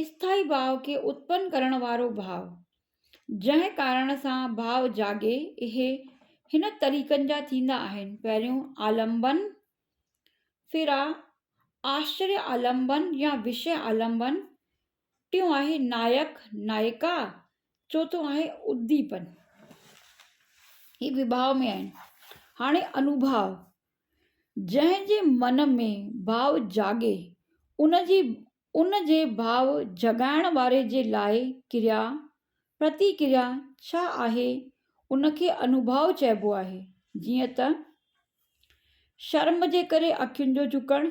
اسٿائي ڀاء کي اتپن ڪرڻ وارو ڀاء، جنهن ڪارڻ سان ڀاء جاڳي، اهي هن طريقن جا ٿيندا آهن، پهريون آلمبن، ڦرا، آشري آلمبن يا وشيه آلمبن، ٽيون آهي نائڪ، نائڪا، چوٿون آهي اديپن. هي وڀاء ۾ آهن. هاڻي انوڀاء، جنهن جي من ۾ ڀاء جاڳي، ان جي ان جي ڀاء جڳائڻ واري جي لاء ڪريا، پرتيڪريا، ڇا آهي، ان کي انوڀاء چئبو آهي. جيئن ته، شرم جي ڪري اکين جو جهڪڻ،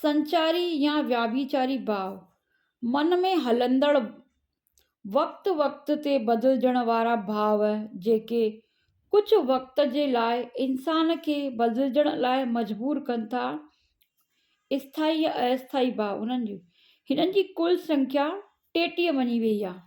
سنچاري يا وياڀيچاري ڀاو، من ۾ هلندڙ وقت وقت تي بدلجڻ وارا ڀاو جيڪي ڪجهه وقت جي لاء انسان کي بدلجڻ لاء مجبور ڪن ٿا، اسٿائي يا ااسٿائي ڀاو هنن جي هنن جي ڪل سنکيا ٽيٽيهه وڃي ويئي آهي.